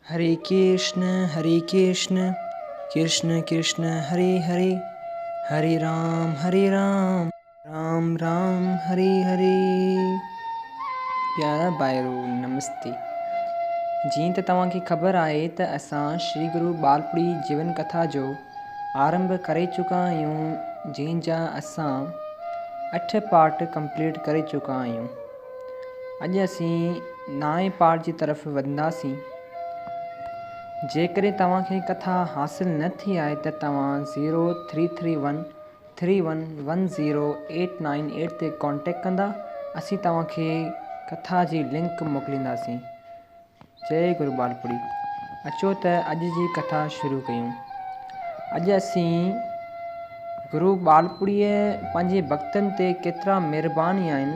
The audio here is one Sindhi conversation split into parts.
هري ڪرشن هري ڪرشن ڪرشن ڪرشن هري هري هري رام هري رام رام رام هري هري پيارا ڀائرو نمستي جيئن ته توهان کي خبر آهي ته اسان شري گرو ٻالپڙي جيون ڪٿا جو آرنڀ ڪري چڪا آهيون جنهن جا اسان اٺ پارٽ ڪمپليٽ ڪري چڪا آهيون اڄ اسين نائين پارٽ جي طرف وڌنداسين. جيڪڏهن توهان کي ڪٿا حاصل نه ٿي آهي ته توهان zero three three one three one one zero eight nine eight تي ڪانٽيڪٽ ڪندا اسين توهان کي ڪٿا جي لنڪ موڪلينداسين. جئي گرو ٻالپڙي اچو ته اڄ جي ڪٿا شروع ڪيون. اڄ اسين گرو ٻالپڙيء پنهنجي ڀڳتن تي ڪيترا مھربان ھيا آھن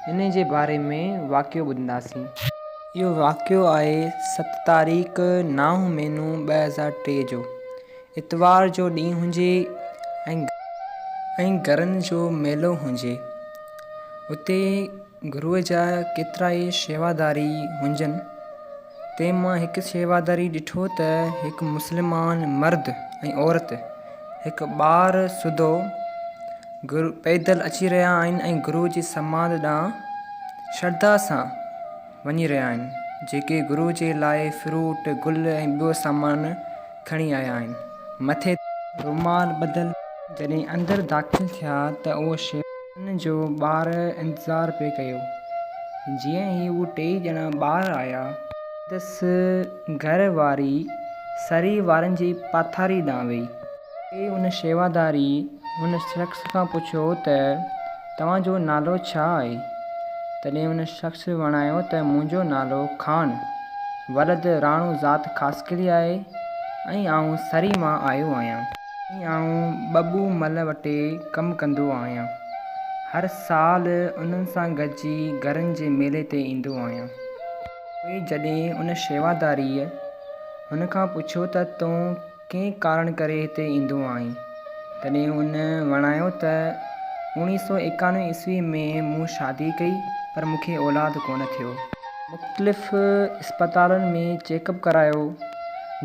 انھي جي باري ۾ واقعو ٻڌنداسين. اھو واقعو آھي ست تاريخ نائون مھينو ٻه ھزار ٽي جو اتوار جو ڏينھن ھجي ۽ گرن جو ميلو ھجي اتي گروء جا ڪيترائي شيواداري هنجن، تنهن مان هڪ شيواداري ڏٺو ته هڪ مسلمان مرد ۽ عورت هڪ ٻار سوڌو گرو پيدل اچي رهيا آهن ۽ گروء جي سماڌ ڏانهن شرڌا سان وڃي رهيا آهن، جيڪي گروء جي لاء فروٽ، گل ۽ ٻيو سامان کڻي آيا آهن مٿي رومال ٻڌل. جڏهن اندر داخل ٿيا ته اهو شيخ انهن جو ٻاهر انتظار پئي ڪيو جيئن ئي اهي ٽيئي ڄڻا ٻاهر آيا سندس گهر واري سري وارن جي پاٿاري ڏانهن وئي ۽ ان شيواداري ان شخص کان پڇيو ته. توهان جو نالو ڇا آهي؟ تڏهن ان شخص وڻايو ته منهنجو نالو خان ولد راڻو ذات خاصخيلي آهي ۽ آئون سري مان آيو آهيان ۽ آئون ٻٻو مل وٽي ڪم ڪندو آهيان. هر سال انهن سان گڏجي گرن جي ميلي تي ايندو آهيان. پوء جڏهن ان شيواداريء هن کان پڇيو ته تون ڪنهن ڪارڻ ڪري هتي ايندو آهين. تڏهن هن وڻايو ته اوڻيهه سؤ ايڪانوي عيسوي ۾ مون شادي ڪئي پر مون کي اولاد ڪونه ٿيو. مختلف اسپتالن ۾ چيڪ اپ ڪرايو،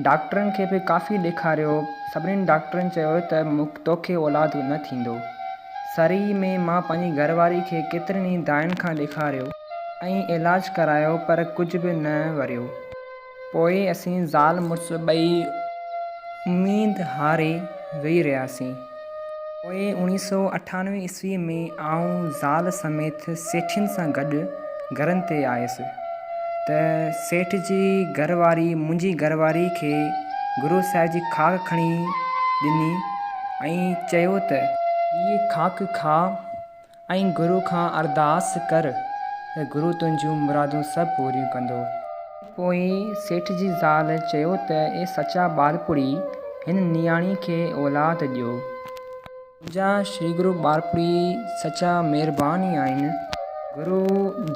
ڊاڪٽرن کي به ڪافي ڏيکاريو، سڀني ڊاڪٽرن چيو ته توکي اولاد نه ٿيندو. سرهي ۾ مان پنهنجي گهر واري کي ڪيترن ئي دائين کان ڏيکاريو ۽ علاج ڪرايو پر ڪجهه به نه وريو. پوء اسين زال مڙس ٻئي اميد هاري ويهي رهياسين. پوء اوڻيهه سؤ اٺانوي عيسويء ۾ آئون زال سميت سيٺين سان گڏ گهرن تي آيس ته سيٺ جي گهر واري منهنجي گهر واري کي گرو صاحب جي خاڪ کڻي ڏني ۽ چيو ته، هيء خاڪ کاء. ۽ گرو کان ارداس ڪر ته گرو تنهنجون مرادون سڀ پوريون ڪندو. پوء سيٺ جي زال چيو ته اي سچا ٻارپوڙهي هن نياڻي کي اولاد ڏيو. منهنجا شري گرو ٻارپوڙهي سچا مهربان ئي آهن. گرو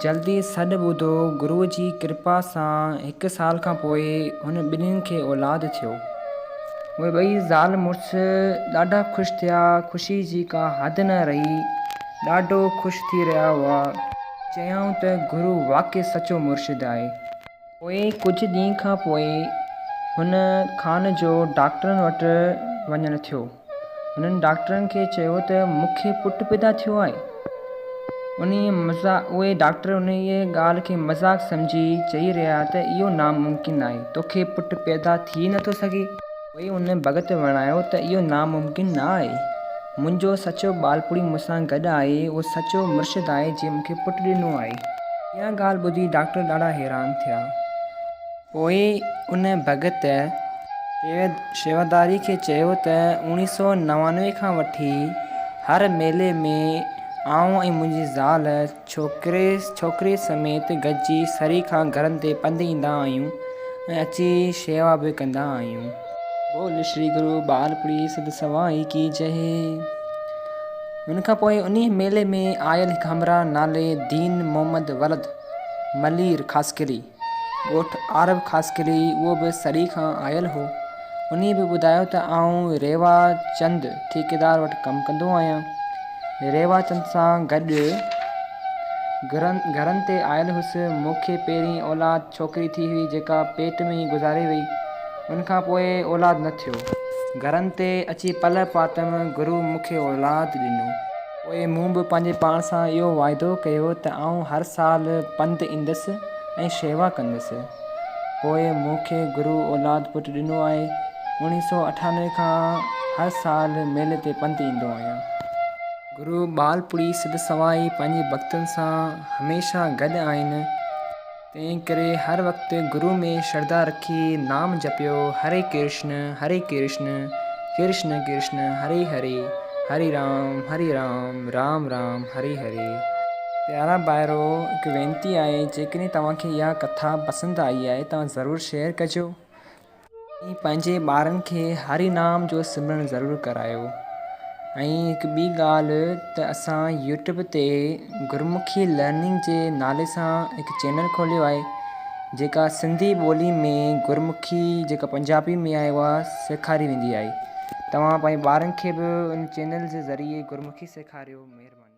جلد ئي سڏ ٻڌو. گرو جي ڪرپا سان هڪ سال کان پوء هن ٻنهين کي اولاد ٿيو. اهي ٻئي زال مڙس ڏاڍا خوش ٿيا. خوشي جي ڪا حد نه رهي. ڏاڍو خوش ٿي رهيا هئا. چيائون ته گرو واقعي سچو مرشد آهي. پوء ڪجهه ڏينهن کان پوء هن خان جو ڊاڪٽرن وٽ وڃڻ ٿيو. هنن ڊاڪٽرن کي چيو ته مون کي پٽ پيدا ٿيو آهي. اهي ڊاڪٽر انهيء ڳالهه کي مذاق سمجهي چئي رهيا ته اهو ناممڪن آهي، تو کي پٽ پيدا ٿي نه ٿو سگهي. پوء ان ڀڳت وڻايو ته اهو ناممڪن نه آهي، منهنجو سچو ٻالپوڙهي مون سان گڏ آهي، اهو سچو مرشد آهي جنهن مون کي پٽ ڏنو آهي. اها ڳالهه ٻڌي ڊاڪٽر ڏاڍا حيران ٿيا. پوء ان ڀڳت شيواداري کي چيو ته اوڻيهه سؤ نوانوي کان وٺي هر ميلي ۾ آئون ۽ منهنجي زال ڇوڪري سميت گڏجي سري کان گهرن تي پنڌ ايندا آهيون ۽ اچي شيوا به ڪندا آهيون. بول شري گرو ٻال پري سڌ سوائي ڪي جئه. ان کان پوء انهيء ميلي ۾ آيل هڪ همراهه نالي دين محمد ولد ملير خاصخيلي ڳوٺ عارب خاصخيلي اهو به سري کان آيل هو. انهي به ٻڌايو ته آئون ريوا چند ٺيڪيدار وٽ ڪم ڪندو آهيان. ريوا چند سان گڏ گهرن تي آيل هوس. مون کي پهرين اولاد ڇوڪري ٿي هئي جيڪا پيٽ ۾ ئي گذاري وئي. ان کان پوء اولاد نه ٿيو. گهرن تي اچي پلئه پاتم گرو مون کي اولاد ڏنو. پوء مون به پنهنجي پاڻ سان اهو واعدو ڪيو ته آئون هر سال پنڌ ايندس ۽ شيوا ڪندس. پوء مون کي گرو اولاد پٽ ڏنو آهي. اوڻيهه سؤ اٺانوي کان هر سال ميلي تي پنڌ ايندو آهيان. گرو ٻالپوڙهي سڌ سوائي پنهنجي ڀڳتن سان هميشه گڏ آهن. تنهن ڪري هر وقت گرو ۾ شرڌا رکي نام جپيو هري ڪرشن هري ڪرشن ڪرشن ڪرشن هري هري هري رام هري رام رام رام هري هري. پيارا ڀائرو هڪ وينتي آهي جيڪڏهن توهان کي اها ڪٿا پسند آئي آهي توهان ضرور شيئر ڪجو ۽ پنهنجي ٻارن کي هري نام جو سمرڻ ضرور ڪرايو ۽ هڪ ٻي ڳالهه ته اسان يوٽيوب تي گرمکي لرننگ جي نالي سان هڪ چينل کوليو آهي جيڪا سنڌي ٻولي ۾ گرمکي جيڪا پنجابي ۾ آهي اها سيکاري ويندي آهي توهان پنهنجي ٻارن کي به ان چينل جي ذريعي گرمکي سيکاريو مهرباني